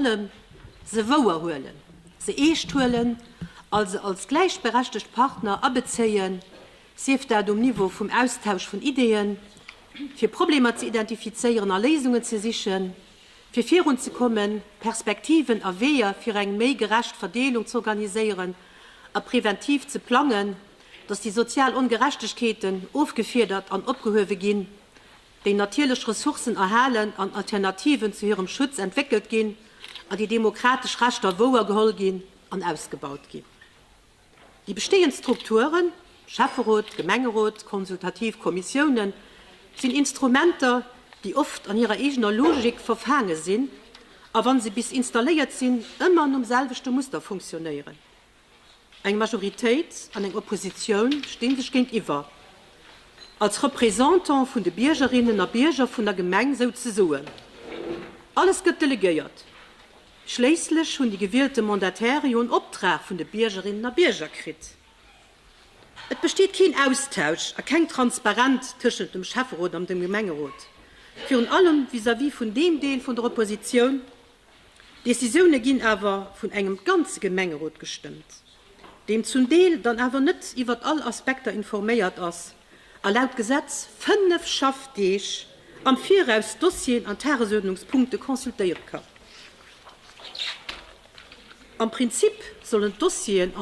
allem se wouer huelen, se eescht huelen a se als gläichberechtegt Partner abezéien, sief dat um Niveau vum Austausch vun Ideeën, fir Problemer ze identifizéieren a Léisungen ze sichen, fir virunzekommen, Perspektiven a Weeër fir eng méi gerecht Verdeelung z'organiséieren a preventiv ze plangen, dass déi sozial Ongerechtegkeeten ofgefiedert an opgehuewe ginn, déi natierlech Ressourcen erhalen an Alternativen zu hirem Schutz entwéckelt ginn a déi demokratesch Rechter wouer geholl ginn an ausgebaut ginn. Déi bestehend Strukturen, Schäfferot, Gemengerot, konsultativ Kommissiounen, sinn Instrumenter, déi oft an hirer eegener Logik verfaange sinn a wa se bis installéiert sinn, ëmmer nom selwechte Muster funktionéieren. Eng Majoritéit an eng Oppositioun sti sech géintiwwer, als Représentant vun de Biergerinnen a Bierger vun der Gemeng souzesoen. Alles gëtt delegéiert. Schléisslech hunn déi gewielte Mandatäre jo en Optrag vun de Biergerinnen a Bierger kritt. Et besteet keen Austausch a keng Transparent tëschent dem Schäfferot an dem Gemengerot, virun allem vis-à-vis vun deem Deel vun der Oppositioun, D'Decisioune ginn awer vun engem ganze Gemengerot gestëmmt, deen zum Deel dann awer net iwwert all Aspekter informéiert ass a laut Gesetz fënnef Schaffdeeg am Viraus d'Dossieren an Tagesuerdnungspunkte consultéiere kann. Am Prinzip sollen d'Dossieren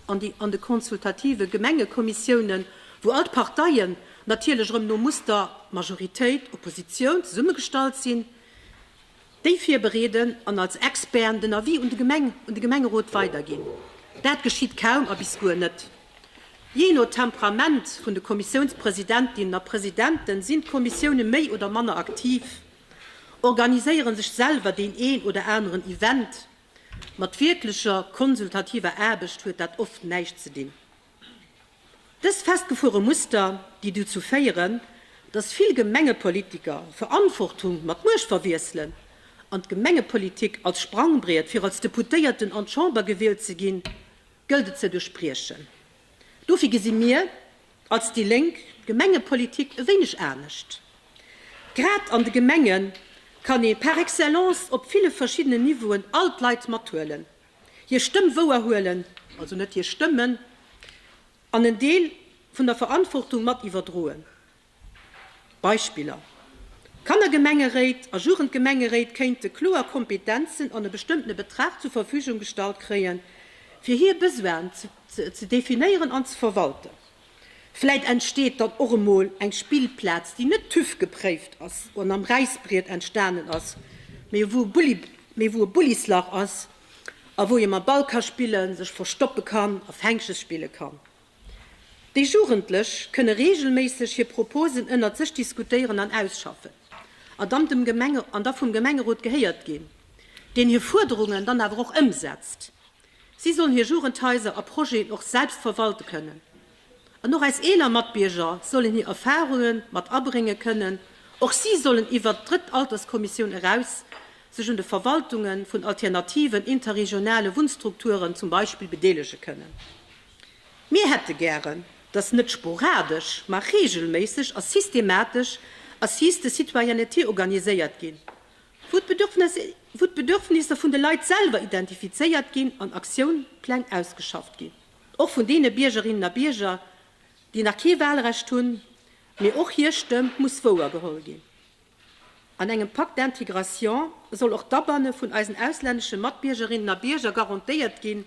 an de consultative Gemengekommissiounen, wou all d'Parteien, natierlech erëm no Muster Majoritéit, Oppositioun, zesummegestallt sinn, déi virbereeden an als Experten den Avis un de Gemeng un de Gemengerot weiderginn. Dat geschitt kaum a bis guer net. Jee no Temperament vun de Kommissiounspresidentinnen a Presidenten sinn d'Kommissioune méi oder manner aktiv, organiséiere sech selwer deen een oder aneren Event. Mat wierklecher konsultativer Aarbecht huet dat oft näischt ze dinn. Dës festgefuere Muster, déi dozou féieren, datt vill Gemengepolitiker Verantwortung mat Muecht verwiesselen an d'Gemengepolitik als Sprangbriet fir als Deputéierten an d'Chamber gewielt ze ginn, gëllt et ze duerchbriechen. Dofir gesi mir als déi Lénk d'Gemengepolitik e wéineg anescht. Grad an de Gemenge kann ee par excellence op ville verschiddenen Niveauen all d'Leit mathuelen. hir Stëmm wouer huelen, also net hir Stëmmen, an en Deel vun der Verantwortung mat iwwerdroen. Beispiller, Kannergemengeréit a Jugendgemengeréit kéinte kloer Kompetenzen an e bestëmmtene Betrag zur Verfügung gestallt kréien, fir hir Besoinen ze definéieren an ze verwalten. Vläit entsteet dann och emol eng Spillplaz, déi net TÜV gepréift ass an am Räisbriet entstanen ass, mee wou mee wou e Bullislach ass a wou ee mam Ball ka spillen, sech verstoppe kann a Fänkches spille kann. Déi Jugendlech kënne reegelméisseg hir Proposen ënnert sech diskutéieren an ausschaffen an dann dem Gemenge an da vum Gemengerot gehéiert ginn, deen hir Fuerderungen dann awer och ëmsetzt. Si sollen hir Jugendhaiser a Projeten och selbst verwalte kënnen. An och eis eeler Matbierger sollen hir Erfarunge mat abrénge kënnen. Och si sollen iwwert d'drëtt Alterskommissioun eraus sech un de Verwaltunge vun alternativen interregionale Wunnstrukturen zum Beispill bedeelege kënnen. Mir hätte gären, datt net sporadesch, ma reegelméisseg a systematesch Assises de citoyenneté organiséiert ginn, wou d'Bedürfnisser vun de Leit selwer identifizéiert ginn an Aktionspläng ausgeschafft ginn, och vun deene Biergerinnen a Bierger, déi nach kee Wahlrecht hunn, mee och hir Stëmm muss wouer geholl ginn. An engem Pacte d'intégration soll och d'Abanne vun eisen auslännesche Matbiergerinnen a Bierger garantéiert ginn,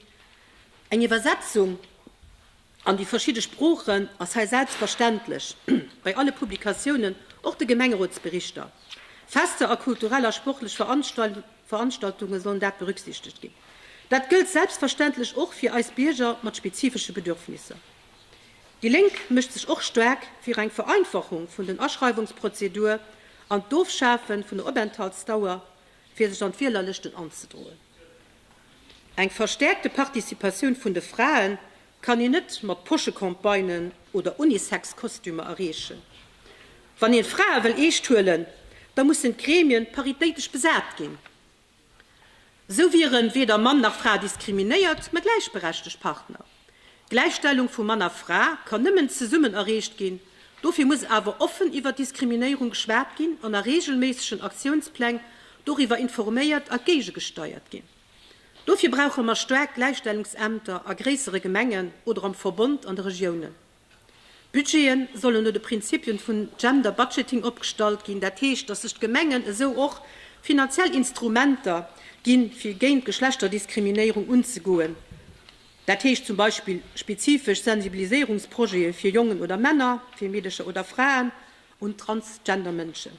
eng Iwwersetzung An déi verschidde Sproochen ass hei selbstverständlech bei alle Publikatiounen, och de Gemengerotsberichter, Fester a kulturell a sportlech Veranstaltunge sollen dat berücksichtegt ginn. Dat gëllt selbstverständlech och fir eis Bierger mat spezifesche Bedürfnisser. Déi Lénk mécht sech och staark fir eng Vereinfachung vun den Aschreiwungsprozedur an d'Ofschafe vun der Openthaltsdauer, fir sech an d'Wielerlëschten anzedroen. Eng verstäerkte Participatioun vun de Frae kann een net mat Poschecampagnen oder Unisex-Kostümer erreechen. Wann een d'Frae wëll eescht huelen, da mussen d'Gremien paritéitesch besat ginn. Esou wieren weder Mann nach Fra diskriminéiert, mä gläichberechtegt Partner. D'Gläichstellung vu Mann a Fra kann nëmmen zesummen erreecht ginn. Dofir muss awer offen iwwer Diskriminéierung geschwat ginn an a reegelméissegen Aktiounspläng doriwwer informéiert a géigegesteiert ginn. Dofir brauche mer staark Gläichstellungsämter a gréissere Gemengen oder am Verbond an de Regiounen. D'Budgete sollen no de Prinzipien vun Gender Budgeting opgestallt ginn, dat heescht, dass sech d'Gemengen esou och finanziell Instrumenter ginn, fir géint Geschlechterdiskriminéierung unzegoen, dat heescht zum Beispill spezifesch Sensibiliséierungsprojete fir Jongen oder Männer, fir Meedecher oder Fraen und transgender Mënschen.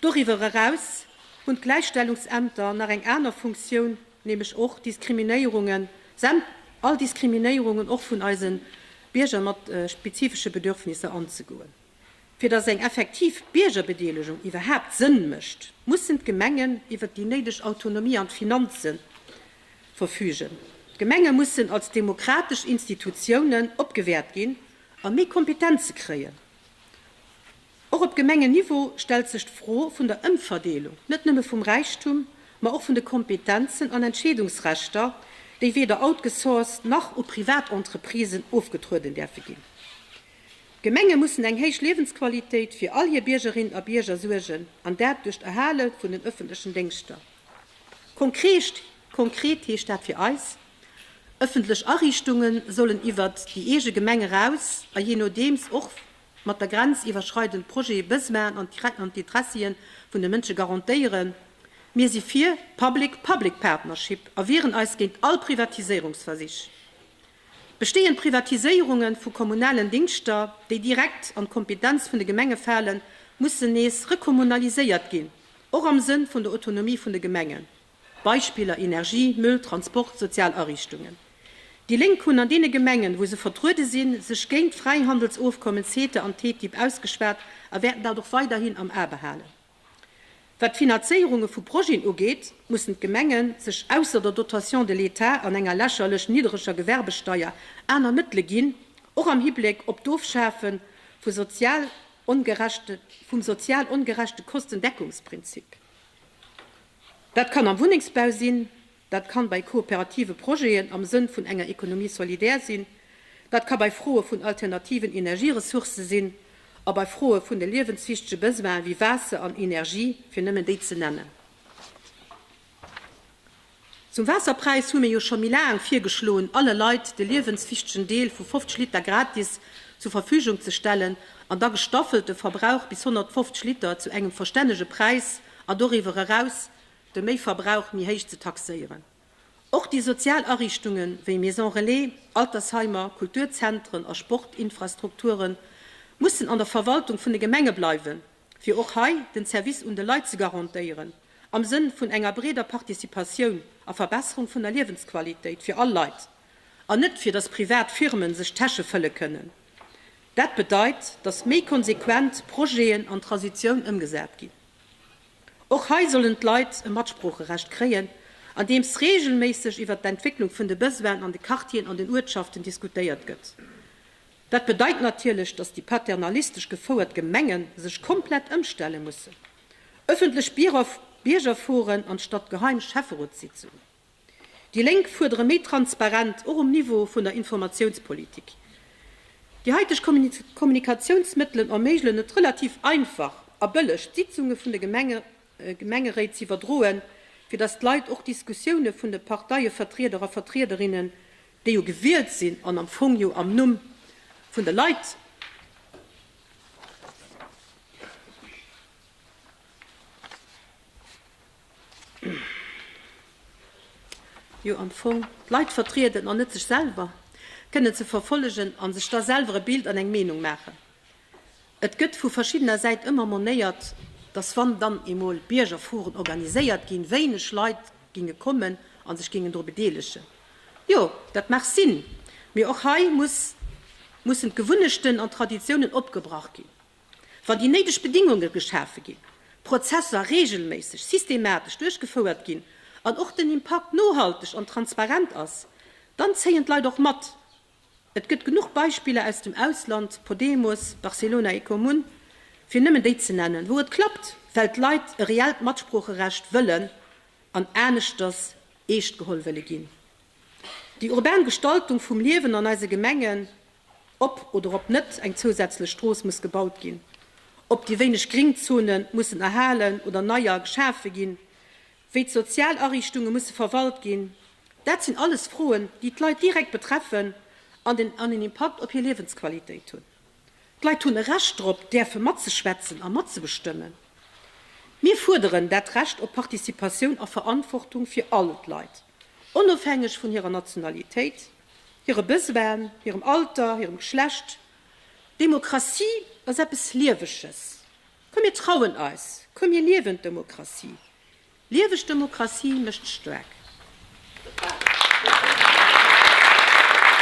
Doriwwer eraus hunn d'Gläichstellungsämter nach eng aner Funktioun, nämlech och Diskriminéierungen, säm, all Diskriminéierungen och vun eise Bierger mat spezifesche Bedürfnisser anzegoen. Fir dass eng effektiv Biergerbedeelegung iwwerhaapt Sënn mécht, mussen d'Gemengen iwwert déi néideg Autonomie an d'Finanze verfügen. D'Gemenge mussen als demokratesch Institutiounen opgewäert ginn a méi Kompetenze kréien. Och op Gemengenniveau stellt sech d'Fro vun der Ëmverdeelung, net nëmme vum Räichtum, ma och vun de Kompetenzen an Entscheedungsrechter, déi weder outgesourced nach u Privatentreprisen ofgetrueden däerfe ginn. D'Gemenge mussen eng héich Liewensqualitéit fir all hir Biergerinnen a Bierger suergen, an dat duerch d'Erhale vun den ëffentlechen Déngschter. Konkreet. Konkreet heescht dat fir eis, Ëffentlech Ariichtunge sollen iwwert déi eege Gemeng eraus a jee nodeems och mat der grenziwwerschreidend Projete bëse maachen an d'Interessie vun de Mënsche garantéieren. Mir si fir Public-Public Partnership a wieren eis géint all Privatiséierungsversich. Bestehend Privatiséierunge vu kommunalen Dingschter, déi direkt an d'Kompetenz vun de Gemenge falen, mussen nees rekommunaliséiert ginn, och am Sënn vun der Autonomie vun de Gemengen. Beispiller, Energie, Müll, Transport, sozial Ariichtungen. Déi Lénk hunn an deene Gemengen, wou se vertruede sinn, sech géint d'Fräihandelsofkommen CETA an TTIP ausgeschwat a wäerten dat och weiderhin am A behalen. Wat d'Finazéierunge vu Projeten ugeet, mussen d'Gemenge sech ausser der Dotation de l'État an enger lächerlech niddreger Gewerbesteier aner Mëttele ginn, och am Hibleck op d'Ofschafe vu sozial ongerechte vum sozial ongerechte Kostendeckungsprinzip. Dat kann am Wunnengsbau sinn, dat kann bei kooperative Projeten am Sënn vun enger Économie solidaire sinn, dat ka bei Froe vun alternativen Energieressourcë sinn a bei Froe vun de liewenswichtege Besoine wéi Waasser an Energie, fir nëmmen déi ze nennen. Zum Waasserpräis hu mir jo scho méi laang virgeschloen, alle Leit de liewenswichtegen Deel vu 50 Liter gratis zur Verfügung ze stellen an da gestaffelt de Verbrauch bis 150 Liter zu engem verstännege Präis, a doriwwer eraus de Méiverbrauch méi héich ze taxéieren. Och déi sozial Ariichtunge wéi Maison Relais, Altersheimer, Kulturzentren a Sportinfrastrukture mussen an der Verwaltung vun de Gemenge bleiwen, fir och hei den Service un de Leit ze garantéieren, am Sënn vun enger breeder Participatioun a Verbesserung vun der Liewensqualitéit fir all Leit. an net fir datt privat Firmen sech d'Täsche fëlle kënnen. Dat bedeit, datt méi konsequent Projeten an Transitioun ëmgesat ginn. Och hei sollen d'Leit e Matsproocherecht kréien, andeems reegelméisseg iwwer d'Entwécklung vun de Besoinen an de Quartieren an den Uertschaften diskutéiert gëtt. Dat bedeit natierlech, datt déi paternalistesch gefouert Gemenge sech komplett ëmstelle mussen. Ëffentlech Biergerforen anstatt geheim Schäfferotssitzungen. Déi Lénk fuerdere méi Transparent, och um Niveau vun der Informatiounspolitik. Déi haiteg Kommunikatiounsmëttelen erméigelen et relativ einfach a bëlleg, d'Sitzunge vun de Gemengeréit ze iwwerdroen, fir datt d'Leit och d'Diskussioune vun de Parteievertrieder a vertriederinnen, déi jo gewielt sinn an am Fong jo am Numm vun de Leit, jo am Fong d'Leit vertrieden an net sech selwer, kënnen ze verfollegen a sech da selwer e Bild an eng Meenung maachen. Et gëtt vu verschiddener Säit ëmmer monéiert, datt wann dann eemol Biergerforen organiséiert ginn, wéineg Leit ginge kommen a sech géingen dru bedeelegen. Jo, dat mag sinn, mee och hei muss mussen d'Gewunnechten an d'Traditiounen opgebrach ginn. Wann déi néideg Bedingunge geschafe ginn, d'Prozesser reegelméisseg, systematesch duerchgefouert ginn an och den Impakt nohalteg an transparent ass, dann zéien d'Leit och mat. Et gëtt genuch Beispiller aus dem Ausland, Podemos, Barcelona, Ecomun, fir nëmmen déi ze nennen, wou et klappt, well d'Leit e reellt Matsproocherecht wëllen an aneschters eescht geholl wëlle ginn. Déi urban Gestaltung vum Liewen an eise Gemengen, ob oder ob net eng zousätzlech Strooss muss gebaut ginn, ob déi wéineg Gringzone mussen erhalen oder neier geschafe ginn, wéi d'sozial Ariichtunge musse verwalt ginn, dat sinn alles Froen, déi d'Leit direkt betreffen an en Impakt op hir Liewensqualitéit hunn. D'Leit hunn e Recht drop, däerfe matzeschwätzen a matzebestëmmen. Mir fuerderen dat Recht op Participatioun a Verantwortung fir all d'Leit. onofhängeg vun hirer Nationalitéit, hire Besoine, hirem Alter, hirem Geschlecht. Demokratie ass eppes Lieweges. Komm mir trauen eis, komm mir liewen d'Demokratie. Lieweg d'Demokratie mécht staark.